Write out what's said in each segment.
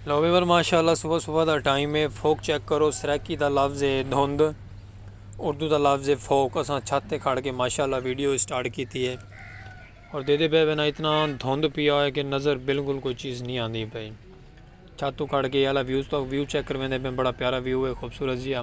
لو viewer ماشاء اللہ صبح صبح دا ٹائم ہے فوک چیک کرو سرائکی دا لفظ ہے دھند اردو دا لفظ ہے فوک اساں چھت تے کھڑ کے ماشاء اللہ ویڈیو اسٹارٹ کیتی ہے اور دے دے پہ بنا اتنا دھند پیا ہے کہ نظر بالکل کوئی چیز نہیں آندی پئی چھت تو کھڑ کے اللہ ویوز تو ویو چیک کرویں دے پہ بڑا پیارا ویو ہے خوبصورت جیا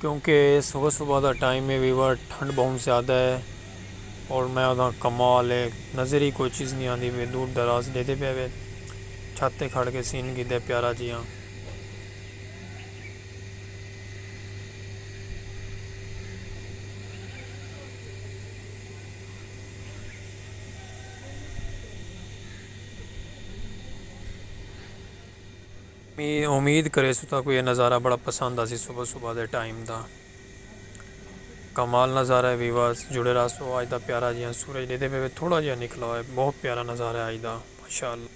کیونکہ اے صبح صبح دا ٹائم اے ویور ٹھنڈ بہوں زیادہ اے اور میں ادھاں کمال اے نظر ہی کوئی چیز نی آندی پئی دور دراز ڈیدھے پئے وے چھت تے کھڑ کے سین گھدے پیارا جیاں۔ میں امید کریسوں تاں کوں اے نظارہ بڑا پسند آسی صبح صبح دے ٹائم دا کمال نظارہ ہے ویورز جڑے راہسو اج دا پیارا جیہاں سورج ڈیدے پے وے تھوڑا جیہاں نکلا ہوئے بہت پیارا نظارہ ہے اج دا ماشاءاللہ۔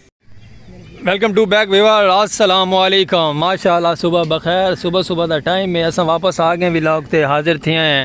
ویلکم ٹو بیک ویورز السلام علیکم ماشاءاللہ صبح بخیر صبح صبح دا ٹائم ہے اساں واپس آ گئے ولاگ تے حاضر تھیاں ہیں۔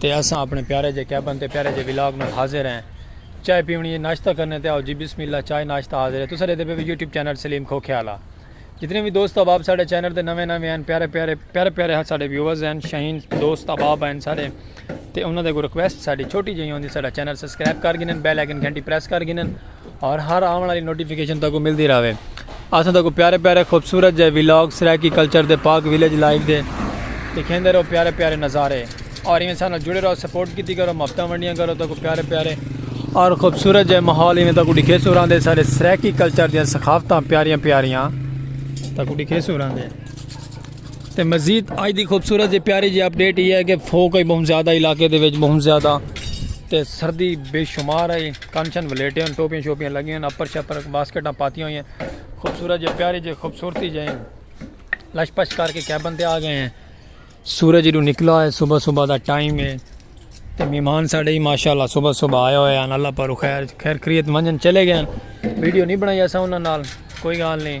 تے اساں اپنے پیارے جے کیبن تے پیارے جے ولاگ نال حاضر ہیں چائے پیونی ہے ناشتہ کرنے تے آؤ جی بسم اللہ چائے ناشتہ حاضر ہے تساں ڈیدے پے وے یوٹیوب چینل سلیم کھوکھے آلا جتنے وی دوست احباب ساڈے چینل تے نویں نویں ہیں پیارے پیارے پیارے پیارے ہاں ساڈے ویورز ہیں شاہین دوست احباب ہیں ساڈے تے انہاں دے کو ریکویسٹ ساڈی چھوٹی جیہی ہوندی ساڈا چینل سبسکرائب کر گھنن بیل آئیکن گھنٹی پریس کر گھنن اور ہر آون آلی نوٹیفکیشن تکوں ملدی راوے اساں تکوں پیارے پیارے خوبصورت جے ویلاگ سرائیکی کلچر دے پاک ویلیج لائیو دے دکھیندے رہو پیارے پیارے نظارے اور ایویں سانا جڑے رہو سپورٹ کیتی کرو محبتاں ونڈیاں کرو تکوں پیارے پیارے اور خوبصورت جے ماحول ایویں تکوں دکھے سوراں دے سارے سرائیکی کلچر دیاں ثقافتاں پیاریاں پیاریاں تکوں دکھے سوراں دے تے مزید آج دی خوبصورت جے پیاری جے اپڈیٹ یہ ہے کہ فوک ہے بہت زیادہ علاقے دے وچ بہت زیادہ تے سردی بے شمار ہے کن شن ولیٹے ہن ٹوپیاں شوپیاں لگی ہن اپر شپر باسکٹاں پاتیاں ہوئی ہن خوبصورت جے پیاری جے خوبصورتی جے لش پش کر کے کیبن تے آ گئے ہیں سورج ادو نکلا ہے صبح صبح دا ٹائم ہے تے مہمان ساڈے ہی ماشاءاللہ صبح صبح آیا ہوئے ہیں اللہ پر خیر خیر خرید منجن چلے گئے ہیں ویڈیو نہیں بنائی ایسا انہاں نال کوئی گال نہیں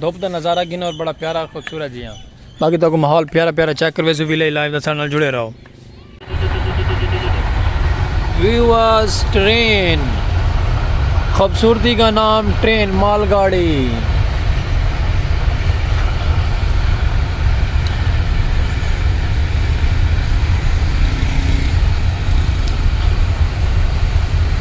دھوپ دا نظارہ گھنو اور بڑا پیارا اور خوبصورت جی ہاں۔ باقی تہاکوں ماحول پیارا پیارا چیک کرویسوں وی لئی لائیو دا ساڈے نال جڑے رہو۔ ویورز ٹرین خوبصورتی کا نام ٹرین مال گاڑی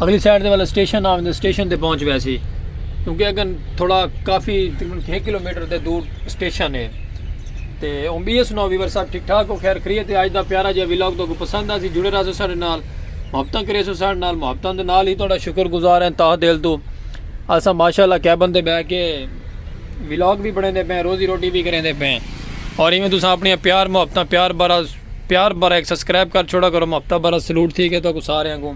اگلی سائیڈ دے والا سٹیشن آویں دے سٹیشن دے پہنچ وے سی کیونکہ اگر تھوڑا کافی تقریباً چھ کلو میٹر دے دور سٹیشن ہے تے اون بی ایس نو ویور صاحب ٹھیک ٹھاک ہو خیر خریت ہے آج دا پیارا جا ویلاگ تو کو پسند آسی جڑے رہا سو سارے نال محبتاں کرے سو سارے نال محبتاں دے نال ہی تھوڑا شکر گزار ہیں تاہ دل تو اسا ماشاءاللہ کیا بندے بہ کے ویلاگ بھی بڑھیں دے پہ روزی روٹی بھی کریں دے پہ اور ایویں تسا اپنی پیار محبتاں پیار برا پیار بھرا ہک سبسکرائب کر چھوڑا کرو ہفتہ بھرا سلوٹ تھی گئے تہاکوں ساریاں کوں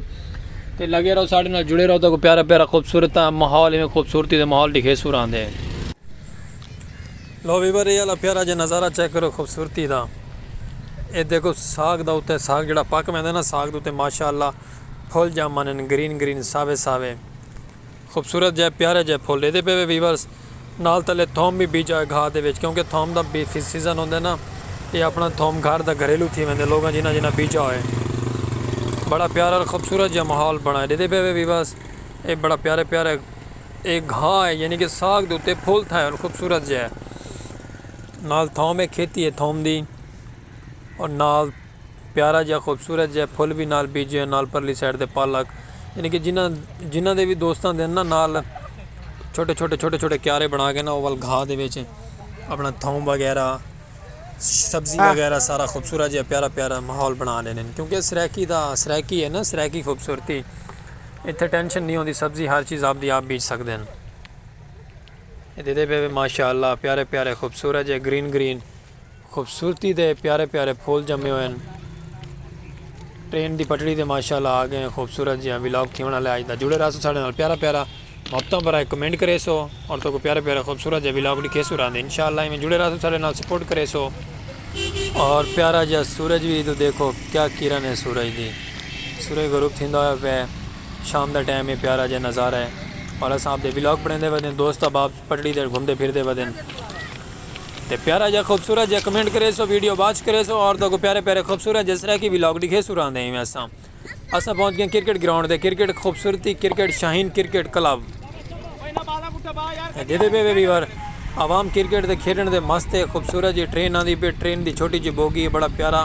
تے لگے رہو ساڈے نال جڑے رہو تہاکوں پیارا پیارا خوبصورت ماحول ایویں خوبصورتی دے ماحول ڈکھے سو راندے۔ لو ویور اے آلا پیارا جے نظارہ چیک کرو خوبصورتی دا اے دیکھو ساگ دا اتے ساگ جیڑا پک ویندے نا ساگ دے اتے ماشاءاللہ پھل جامن گرین گرین ساوے ساوے خوبصورت جئے پیارے جئے پھل ڈیدے پے وے ویورز نال تلے تھوم وی بیجا ہے گھا دے وچ کیونکہ تھوم دا بی فی سیزن ہوندے نا اے اپنا تھوم گھر دا گھریلو تھی ویندے لوگاں جنہاں جنہاں بیجا ہوئے بڑا پیارا اور خوبصورت جئے ماحول بنائے ڈیدے پے وے ویورز اے بڑا پیارے پیارے اے گھا ہے یعنی کہ ساگ دے اتے پھل تھائے اور خوبصورت جئے نال تھوم ہے کھیتی ہے تھوم دی اور نال پیارا جیہا خوبصورت جیہے پھل وی نال بیجے ہن نال پرلی سائیڈ تے پالک یعنی کہ جنہاں جنہاں دے وی دوستاں دے ہن نا نال چھوٹے چھوٹے چھوٹے چھوٹے کیارے بنا کے نا اول گھا دے وچ اپنا تھوم وغیرہ سبزی وغیرہ سارا خوبصورت جیہا پیارا پیارا ماحول بنا دے ہن کیونکہ سرائیکی دا سرائیکی ہے نا سرائیکی خوبصورتی اتھے ٹینشن نہیں ہوندی سبزی ہر چیز آپ دی آپ بیج سکدے ہن اے دے دے پے ماشاءاللہ پیارے پیارے خوبصورت جیہے گرین گرین خوبصورتی دے پیارے پیارے پھول جمے ہوئے ہن۔ ٹرین دی پٹڑی تے ماشاء اللہ آ گئے ہیں خوبصورت جیہاں ولاگ تھیون آلا ہے اج دا جڑے رہسو ساڈے نال پیارا پیارا محبتاں برائے کمنٹ کریسو اور تہاکوں پیارے پیارے خوبصورت جیہاں ولاگ ڈکھیسو راندے انشاء اللہ ایویں جڑے رہسو ساڈے نال سپورٹ کریسو اور پیارا جیہاں سورج وی ادھر دیکھو کیا کرن ہے سورج دی سورج غروب تھیندا ہویا پیا ہے شام دا ٹائم ہے پیارا جیہاں نظارہ ہے اور اساں آپ دے ولاگ بنیندے ودے ہیں دوست احباب پٹڑی تے گھمدے پھردے ودن تے پیارا جا خوبصورت جا کمنٹ کریسو ویڈیو واچ کریسو اور تہاکوں پیارے پیارے خوبصورت جے سرائیکی ولاگ ڈکھیسو راندے ایویں اساں اساں پہنچ گئے کرکٹ گراؤنڈ دے کرکٹ خوبصورتی کرکٹ شاہین کرکٹ کلب دیدے پہ وے ویور عوام کرکٹ دے کھیڈن دے مست ہے خوبصورت جی ٹرین آندی پہ ٹرین دی چھوٹی جی بوگی ہے بڑا پیارا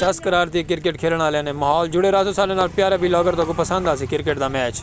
چس قرار تے کرکٹ کھیلݨ آلیاں نے ماحول جڑے رہسوں ساݙے نال پیارے وی لاگر تہاکوں پسند آسی کرکٹ دا میچ۔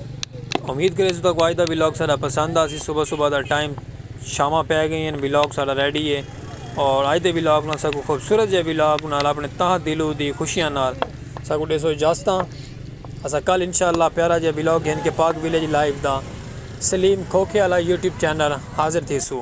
امید کریسوں تہاکوں اج دا ولاگ ساڈا پسند آسی صبح صبح دا ٹائم شاماں پے گئی ہن ولاگ ساڈا ریڈی ہے اور اج دے ولاگ نال ساکوں خوبصورت جے ولاگ نال اپنے تہہ دلو دی خوشیاں نال ساکوں ڈیسو اجازتاں اساں کل انشاءاللہ پیارا جے ولاگ گھن کے پاک ولیج لائیو دا سلیم کھوکھے آلا یوٹیوب چینل حاضر تھیسوں۔